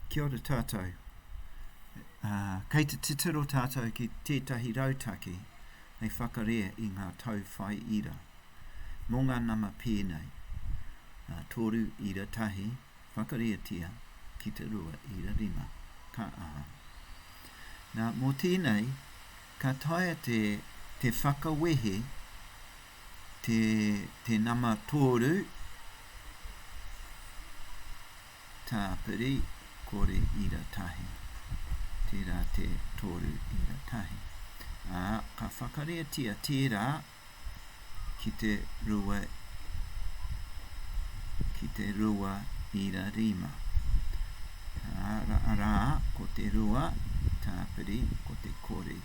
Kia ora tātou. Uh, kei te titiro tātou ki tētahi rautaki hei whakarea i ngā tau whai ira. Mō ngā nama pēnei, uh, tōru ira tahi, whakareatia ki te rua ira rima. Ka aha. Nā, mō tēnei, ka taia te, te whakawehe te te nama tōru tāpiri kore ira tahi tērā te tōru ira tahi ā ka whakareatia tērā ki te rua ki te rua ira rima ā rā ko te rua tāpiri ko te kore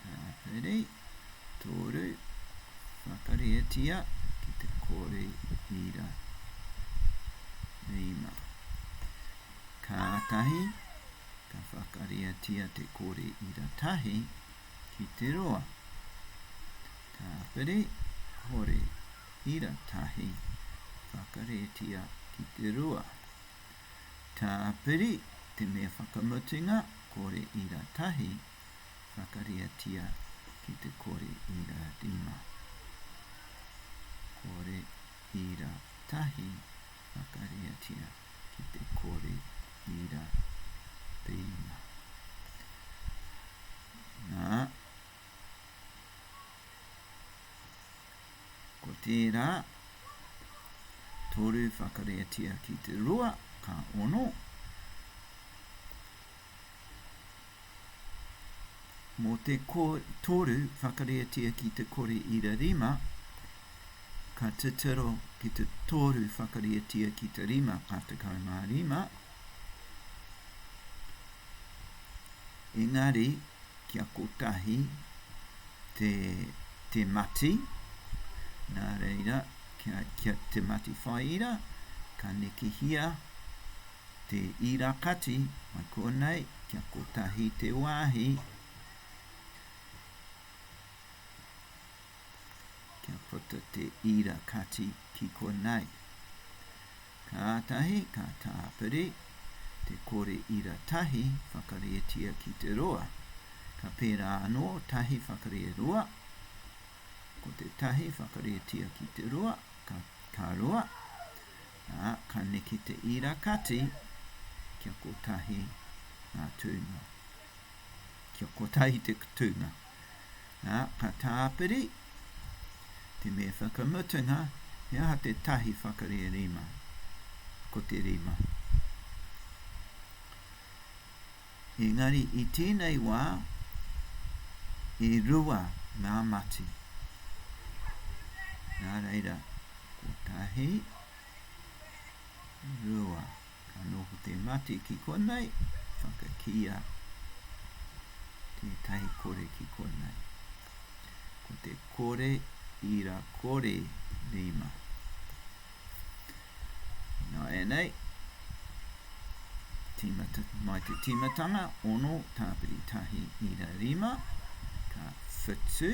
Tāpiri, tōru, whakarietia ki te kore ira. Rima. Kātahi, ka whakarietia te kore ira tahi ki te roa. Tāpiri, kore ira tahi, whakarietia ki te rua. Tāpiri, te mea whakamutunga, kore ira tahi, whakariatia ki te kore ira rima. Kore ira tahi, whakariatia ki te kore ira rima. Nā. Ko tērā toru whakareatia ki te rua, ka ono. Mō te toru whakareatia ki te kore ira rima, ka titiro ki te toru whakareatia ki te rima, ka tekau mā rima. Engari, kia kotahi, te te mati, nā reira, kia, kia te mati whaiira, ka nekehia te ira kati, mai konei, kia kotahi te wāhi, kia puta te ira kati ki konei. Kātahi ka tāpiri te kore ira tahi whakareatia ki te roa, ka pērā anō tahi whakare roa, ko te tahi whakareatia ki te roa, ka, ka roa, ā, ka neke te ira kati kia kotahi ngā tūnga. Kia kotahi te kutūnga. Ā, ka tāpiri te me whakamutunga he aha te tahi whakarē rima. Ko te rima. Engari i tēnei wā, e rua ngā mati. Nā reira, kotahi, rua. Anō ko te mate ki konei, whakakīia tētahi kore ki konei. Ko te kore ira kore rima. Nāianei, tīmata, mai te tīmatanga, ono, tāpiri tahi, ira rima, ka whitu,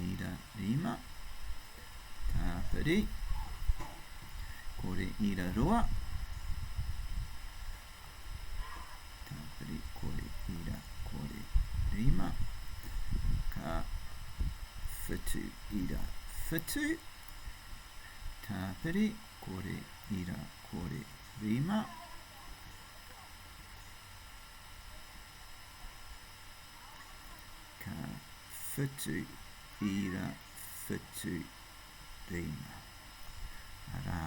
ira rima, Tāpiri, kore ira roa. Tāpiri, kore ira, kore rima. Ka whitu ira whitu. Tāpiri, kore ira, kore rima. Ka whitu ira Whituteina, arā,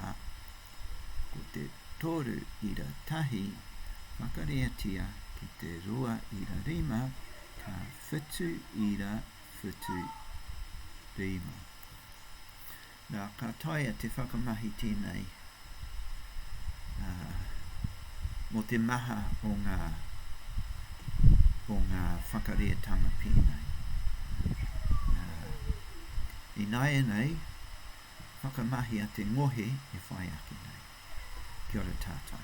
ko te toru ira tahi, makareatia ki te rua ira rima, ka whitu ira whitu rima. Nā, ka taea te whakamahi tēnei ā, mō te maha o ngā, o ngā whakarētanga pēnei. Ā, ināianei, whakamahia te ngohe e whai ake nei. Kia ora tātou.